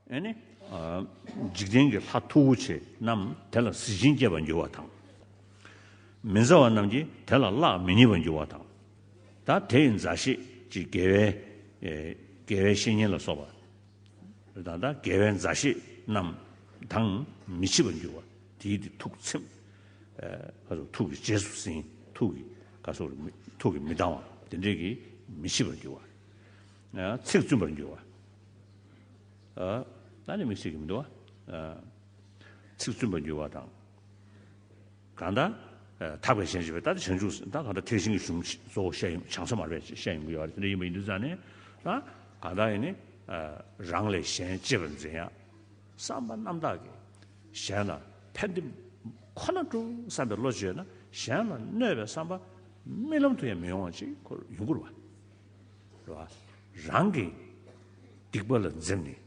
ཨེ་ནི། འཇིག་རྟེན་གྱི་ལྷ་མཐུ་བོ་ཆེ་རྣམས་དེ་ལ་གཟི་བྱིན་བསྐྱེད་པར་འགྱུར་བ་དང། མི་མཛའ་བ་རྣམས་ཀྱིས་དེ་ལ་གླགས་མི་རྙེད་པར་འགྱུར་བ་དང། ད་དེའི་མཛའ་བཤེས་ཀྱི་དགེ་བའི། དགེ་བའི་བཤེས་གཉེན་ལ་སོགས་པ། དང། དགེ་བའི་མཛའ་བཤེས་རྣམས་དང་མི་འཆི་བར་འགྱུར་བ་དེའི་དེ་ཐུགས་ཚིམ། ཐུགས་ཀྱི་རྗེས་སུ་ཟིན། ཐུགས་ཀྱི་མི་ལྡང་བ་དེ་འབྲས་ཀྱིས་མི་འཆི་བར་འགྱུར་བ། ཚིག་བཙུན་པར་འགྱུར་བ། ད་ནི་མིག་ཤེས་ཀྱི་མི་འདུ་བ། ཚིག་བཙུན་པར་འགྱུར་བ་དང། གང་དག། དག་པའི་ཞལ་བྱེད་པས་ད་ནི་བྱང་ཆུབ་སེམས་དཔའ་གང་དག་ཐེག་ཆེན་གྱི་གཞུང་གཙོ་བོ་བཤད་ཡོང་བྱང་ས་མར་པས་བཤད་ཡོང་གི་ཡོད་པ་དེ་འདྲ་ཡིན་པ་ཡིན་དུས་ཙང་ནས། གང་དག་ཡིན་ནི། རང་ལས་གཞན་གཅེས་པར་འཛིན་ཡང། བསམ་པ་རྣམ་དག་གིས་གཞན་ལ་ཕན། འདི་ཁོ་ན་སྤྲོ་བསམ་པའི་བློ་བཅོས་ན་གཞན་ལ་གནོད་པའི་བསམ་པ། རྨི་ལམ་དུ་ཡང་མི་ཡོང་བ་ཅིག་ཡོང་སྐོར་བ། རང་གི་སྡིག་པ་ལ་འཛེམས་ནས་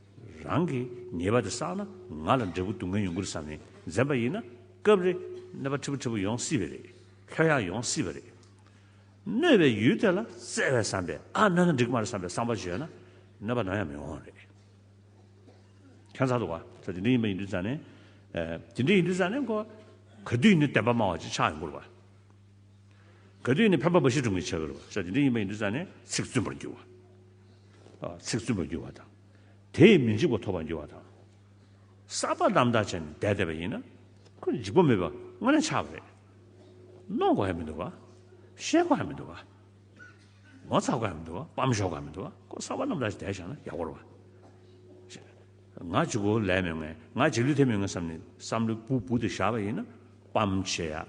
རང་གི་ཉེས་པ་དེ་བསགས་ན་ང་ལ་འབྲས་བུ་སྡུག་བསྔལ་ཡོང་གི་རེད་བསམ་ནས་འཛེམས་པ་ཡིན་ན་སྐབས་རེ་གནོད་པ་ཕྲི་བོ་ཕྲི་བོ་ཡོང་སྲིད་པས་རེད། ལྷོད་ཡངས་ཡོང་སྲིད་པས་རེད། གནོད་པའི་ཡུལ་དེ་ལ་བརྩེ་བའི་བསམ་པས་ཨ་གནོད་ན་འགྲིག་གི་མ་རེད་བསམ་པའི་བསམ་པ་བརྗོད་ན་གནོད་པ་ནམ་ཡང་མི་འོང་བ་རེད། ཁྱོད་ཚ་འདུག་བ་ཚ་དེ་འདྲ་ཡིན་པ་ཡིན་དུས་ཚ་ནས། དེ་འདྲ་ཡིན་དུས་ཚ་ནས་གོ། གོ་དུས་ནི་བདེན་པ་སྨྲ་བ་ཅིག་ཆགས་ཡོང་གི་རེད་བ། ག་དུས་ནས་ཕན་པ་འབའ་ཞིག་འབྱུང་གི་བྱ་བའི་རོལ་ཆ་དེ་འདྲ་ཡིན་པ་ཡིན་དུས་ཙང་ནས་ཚིག་བཙུན་པར་འགྱུར་བ། ཚིག་བཙུན་པར་འགྱུར་བ་དང། དེས་མི་འཇིགས་པ་ཐོབ་པར་འགྱུར་བ་དང། བསགས་པ་རྣམ་དག་བྱས་ནས་བཟླས་བསྡད་པ་ཡིན་ན། ཁོས་འཇིགས་པ་མེད་པ་དངོས་གནས་ཆགས་པ་རེད། གནོང་དགོས་ཡ་མི་འདུག་ག། བཤད་དགོས་ཡ་མི་འདུག་ག། ངོ་ཚ་དགོས་ཡ་མི་འདུག་ག་སྤམ་ཞོག་དགོས་ཡ་མི་འདུག་ག་ཁོ་བསགས་པ་རྣམ་དག་བྱས་ནས་བསྡད་ཞག་ན་ཡག་པོ་རེད། ང་འཇིགས་གོ་ལས་མེད་ངས་ང་འཇིགས་ལུས་ཐེབས་མེད་ངས་བསམ་ནས་བསམ་བློའི་སྤུ་སྤུ་དེ་བཞག་པ་ཡིན་ན་སྤམ་བྱེད་ཡ།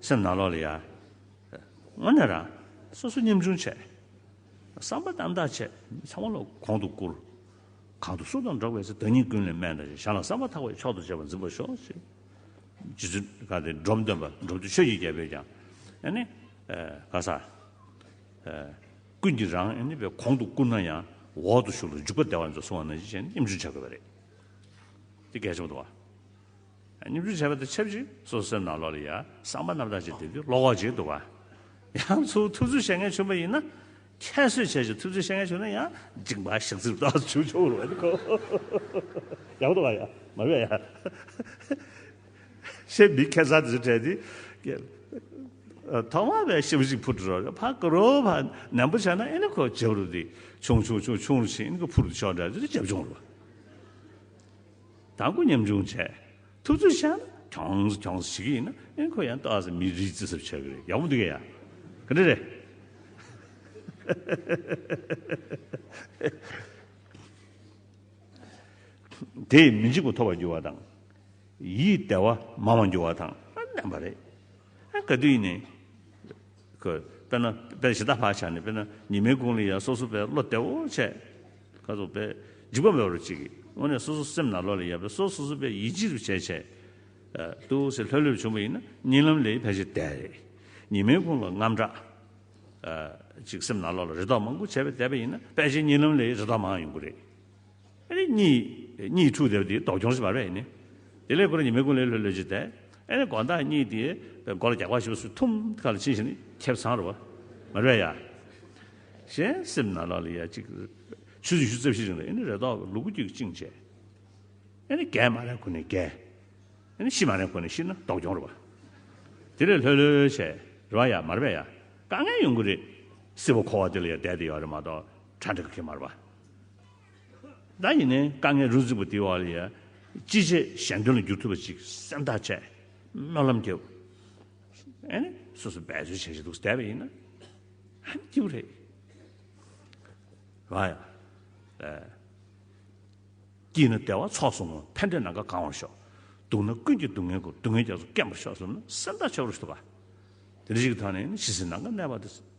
སེམས་ནང་ལོག་ལ་ཡ། སྔོན་ནས་རང། སོ་སོ་སྙེམས་ཆུང་བྱས། བསམ་པ་རྣམ་དག་བྱས། མི་ཚང་མ་ལ་གོང་དུ་བཀུར། གང་དུ་སུ་དང་འགྲོགས་པའི་ཚེ་བདག་ཉིད་ཀུན་ལས་སྨད་དང་བཞི་གཞན་ལ་བསམ་པ་ཐག་པས་མཆོག་ཏུ་བྱེད་པར་འཛིན་པར་ཤོག། ཅེས་རྗེ་བཙུན་བཀའ་སྟེ་འབྲོམ་སྟོན་པ་འབྲོམ་ཆུ་ཆོས་ཀྱི་རྒྱལ་པོས་ཀྱང། ཨཱ་ནི། བཀའ་སྩལ། ཀུན་གྱིས་རང་ཨཱ་ནི་པའི་གོང་དུ་བཀུར་ན་ཡང། འོག་ཏུ་ཞུགས་ལ་འཇུག་པ་བདེ་བར་མཛོད་གསུང་བ་ན་བཞི་གཞན་སྙེམས་ཆུང་བྱ་དགོས་པ་རེད། ཅེས་གལ་ཆེན་པོ་བསྟན། སྙོམས་འཇུག་བྱས་པ་དང་ཆབས་ཅིག་སོ་སོའི་སྣང་ལོག་ལ་ཡང་གསང་བ་རྣམ་དག་ཅིག་དེ་དུས་ལོག་འོག་འཇིག་འདུག་པ། ཡང་ཚུར་ཐུགས་རྩོད་བྱེད་མཁན་བྱུང་བ་ཡིན་ན། ཁྱད་གསོད་བྱས་ཀྱི་ཐུགས་རྩོད་བྱེད་མཁན་བྱུང་ན་ཡང་འཇིག་འབའ་ཞིག་ཚུར་ལྡོག་བྱུང་ཆོག་རུང་བ་འདི་ཁོ། ཡག་པོ་འདུག་ག་ཡ། མ་བས་ཡ། ཞེས་མི་ཁེ་ཚ་དེ་ཚོ་བྲལ་ཏེ། ཐོག་མ་བས་ཞིབ་ཅིག་འཕུར་འགྲོ་རོགས་ཕ་ཀི་རོ་ཕ་ནན་པོ་བྱས་ན་ཨེ་ནི་ཁོ་རྒྱབ་རུ་འདི་ཆུང་ཆུང་ཆུང་ཆུང་རུ་ཕྱིན་ཨེ་ནི་ཁོ་འཕུར་དུ་ཆོག་འདྲ་འདི་འདྲ་རྒྱབ་བྱུང་རུང་བ། དང་སྐུ་མཉམ་འབྱུང་བྱས། ཐུབ་ཚོད་བྱས་ན་གྱོང་ཟ་གྱོང་ཟ་བྱེད་ཀྱི་ཡིན་ན་ཨེ་ཁོ་ཡང་ལྟ་ཟ་མི་རིགས་བརྩི་ཟབ་བྱེད་ཀྱི་རེད་ཡག་པོ་འདུག་གས་ཡ། ག་འདྲ་རེད། དེས་མི་འཇིགས་པ་ཐོབ་པར་འགྱུར་བ་དང། ཡིད་བདེ་བ་མང་བར་འགྱུར་བ་དང་ལྡན་པ་རེད། ག་དུས་ནས། དགོས། དཔེར་ན། དཔེར་གཞི་བདག་བག་ཆགས་ནི་དཔེར་ན་ཉི་མའི་དགུང་ལས་ཡར་སོ་སོ་པའི་བློ་བདེ་བོ་ཆེ། ཁ་དོག་པས་འཇིགས་པ་མེད་པར་བྱེད་ཀྱི། དངོས་གནས་སོ་སོ་སེམས་ནང་བློ་ལས་ཡར་པའི་སོ་སོ་སོ་པའི་ཡིད་འཇིགས་རུ་བྱེད་ཆེད་དུ་ཟེར་ལྷོད་ལྷོད་བྱུང་བ་ཡིན་ན་རྙིང་ལམ་ལས་ཕལ་ཆེར་བདེ་བ་རེད། ཉི་མའི་དགུང་ལོ་རྔམ་དྲག་ཅིག་སེམས་ནང་བློ་ལ་རེ་དོགས་མང་པོ་བྱས་པས་བདེ་བ་ཡིན་ན་ཕལ་ཆེར་རྙིང་ལམ་ལས་རེ་དོགས་མང་ཡོང་གི་རེད། ཨེ་ནི་གཉིས་འཁྲུགས་དེར་དེའི་ཟློག་སྦྱོང་ཞེས་པ་རེད་ནི། དེ་ལས་འཁོར་ཉི་མའི་ཀུན་ལས་ལྷོད་ལྷོད་ཅིག་དེ། ཨེ་ནི་དགོངས་དག་གཉིས་དེའི་མགོ་ལ་རྒྱགས་པ་ཞིག་སུས་ཐུམ་ཁ་ལ་བྱིན་བཞིན་ཁེབས་ཚང་རུ། མ་རེད་ཡ། གཞན་སེམས་ན་ལ་ལ་ཡ་གཅིག། ཆུ་ཟིག་ཆུ་རྩིབས་ཤིག་རིང་ལ་ཨེ་ནི་རེ་དོགས་ཀྱི་ལུ་གུ་རྒྱུད་བཅིངས་བཅས། ཨེ་ནི་རྒས་མ་རན་ཁོ་ནི་རྒས། ཨེ་ནི་ཤི་མ་རན་ཁོ་ནི་ཤི་ན་ཟློག་སྦྱོང་རུ་བ། དེ་ལས་ལྷོད་ལྷོད་བྱས་རུ་བ་ཡ་མ་རེད་ཡ། དཀའ་ངལ་ཡོང་གི་རེད། སྲིད་པ་འཁོར་བ་དེ་ལ་ཡ་བསྡད་དེ་ཡོད་རེད་མ་གཏོགས་གྲ་འགྲིག་གི་མ་རུ་བ། བདག་ཉིད་ནི་དཀའ་ངལ་རུ་གཟིགས་པ་དེའི་བར་ལ་ཡང་ཅི་བྱས་གཞན་དོན་ལ་འགྱུར་ཐུབ་པ་ཅིག་སེམས་ཐག་བཅད་སྨོན་ལམ་རྒྱབ། ཨེ་ནི་སོ་སོ་འབད་རྩོལ་བྱེད་བཞིན་འདུག་བསྡད་པ་ཡིན་ན་ཧམ་སྐྱིད་པོ་རེད། ང་ཡང་ཨེ་སྐྱིད་ན་བདེ་བ་ཚོགས་སོང་ངོ་ཕན་འབྲས་ནམ་མཁའ་གང་བར་ཤོག་སྡུག་ན་ཀུན་གྱི་སྡུག་བསྔལ་གོ་སྡུག་བསྔལ་རྒྱ་མཚོ་སྐེམ་པར་ཤོག་ཟེར་ན་སེམས་ཐག་ཆོད་པོ་རེད་ད། དེ་འདྲ་ཞིག་གི་ཐོག་ནས་ནི་ཕྱི་སེམས་ནམ་མཁའ་གནས་པ་དེ།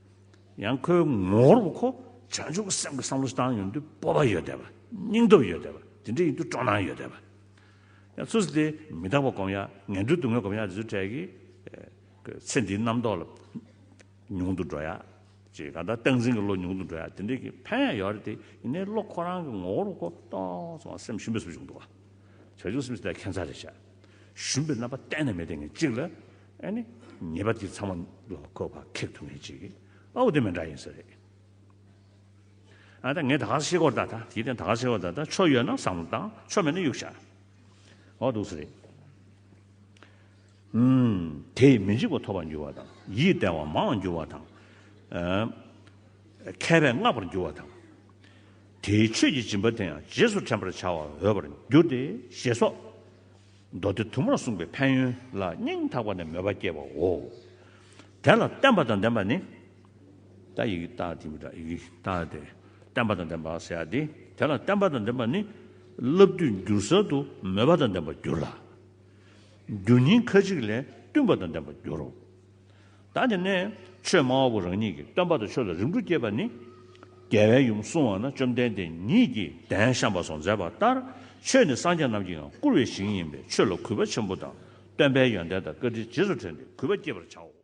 ཡང་ཁོའི་ངོ་བོར་བུ་ཁོ་བྱང་ཆུབ་ཀྱི་སེམས་ཀྱི་བསམ་བློ་བཏང་ཡོང་དུས་སྤོབས་པ་ཡོད་བསྡད་པ། སྙིང་སྟོབས་ཡོད་བསྡད་པ་དེ་འདྲ་ཡིན་དུས་སྤྲོ་སྣང་ཡོད་བསྡད་པ། ཡང་ཚུར་ཟད་དེ་མི་རྟག་པ་སྒོམ་ཡག་ངན་འགྲོའི་སྡུག་བསྔལ་སྒོམ་ཡག་དེ་ཚོའི་གྲས་ཀྱི་ཚེ་འདིའི་རྣམ་རྟོག་ལ་ཉུང་དུ་འགྲོ་ཡག་ཅེས་གང་ལྟར་སྟངས་འཛིན་གྱི་བློ་ཉུང་དུ་འགྲོ་ཡག་དེ་འདྲའི་གི་ཕན་ཡང་ཡོད་རེད་དེ་ཡིན་ནའི་བློ་ཁོ་རང་གི་ངོ་བོར་བུ་ཁོ་ཏོག་ཙམ་ཡང་སེམས་ཞུམ་པའི་སུ་ཞིག་འདུག་བ། བྱང་ཆུབ་སེམས་ཀྱི་ལྟ་མཁན་ཚར་རེ་བཞག་ཞུམ་པའི་རྣམ་པ་གཏན་ནས་མེད་བསྡད་ངེས་གཅིག་ལ། ཨ་ནི། ངེས་པར་དུ་ཚང་མ་ལ་བཀོད་པ་ཁེགས་ཐུབ་མེད་ཅིག་ཨ་འོ་དེ་མི་འདྲ་ཡིན་ས་རེད། ཨ་ད་ངས་ད་ག་ས་ཤེས་སྐོར་ད་ད་དེའི་སྟེང་ད་ག་ས་ཤེས་སྐོར་ད་ད་ཆོ་ཡོད་ན་བསམ་བློ་བཏང་ཆོ་མེད་ན་གཡུག་བཞག་འོ་འདུག་ས་རེད། ཧུམ། དེས་མི་འཇིགས་པ་ཐོབ་པར་འགྱུར་བ་དང་ཡིད་བརྟན་བ་མང་བར་འགྱུར་བ་དང། མཁས་པས་བསྔགས་པར་འགྱུར་བ་དང། དེའི་ཆོས་ཀྱི་སྦྱིན་པ་དེ་ཡང་རྗེས་སུ་དྲན་པར་བྱ་བར་འོས་པར་འགྱུར་ཏེ་ཞེས་སོགས། མདོ་སྡེ་དུ་མར་གསུངས་པའི་ཕན་ཡོན་ལ་སྙིང་ཐག་པ་ནས་མོས་པ་སྐྱེ་བའོ། དེ་ལ་བརྟན་པ་དང་ལྡན་པ་ནི། ད་ཡིག་བཏགས་ཏེ་མི་བཏགས་ཡིག་བཏགས་ཏེ། བརྟན་པ་དང་ལྡན་པ་ཟེར་ཏེ། དེ་ལ་བརྟན་པ་དང་ལྡན་པ་ནི། བསླབ་དུས་འགྱུར་གསར་དུ་མོས་པ་དང་ལྡན་པར་འགྱུར་ལ། འགྱུར་ཉིན་ཁ་ཅིག་ལས་བསྟུན་པ་དང་ལྡན་པར་འགྱུར་རོ། བདག་གི་གནས། ཆོས་སྨྲ་བ་པོ་རང་ཉིད་ཀྱིས་སྟོན་པ་དང་ཆོས་ལ་རིམ་གྲོ་བསྐྱེད་པ་ནི། རྒྱལ་བའི་ཡུམ་བསྲུང་བ་ན་བཅོམ་ལྡན་འདས་ཉིད་ཀྱིས་གདན་བཤམས་པ་སོགས་མཛད་པ་ལྟར་ཆོས་ནི་སངས་རྒྱས་རྣམས་ཀྱིའང་བཀུར་བའི་ཞིང་ཡིན་པས་ཆོས་ལ་གུས་པ་ཆེན་པོ་དང་སྟོན་པའི་ཡོན་ཏན་དང་བཀའ་དྲིན་རྗེས་སུ་དྲན་ཏེ་གུས་པ་བསྐྱེད་པར་བྱའོ།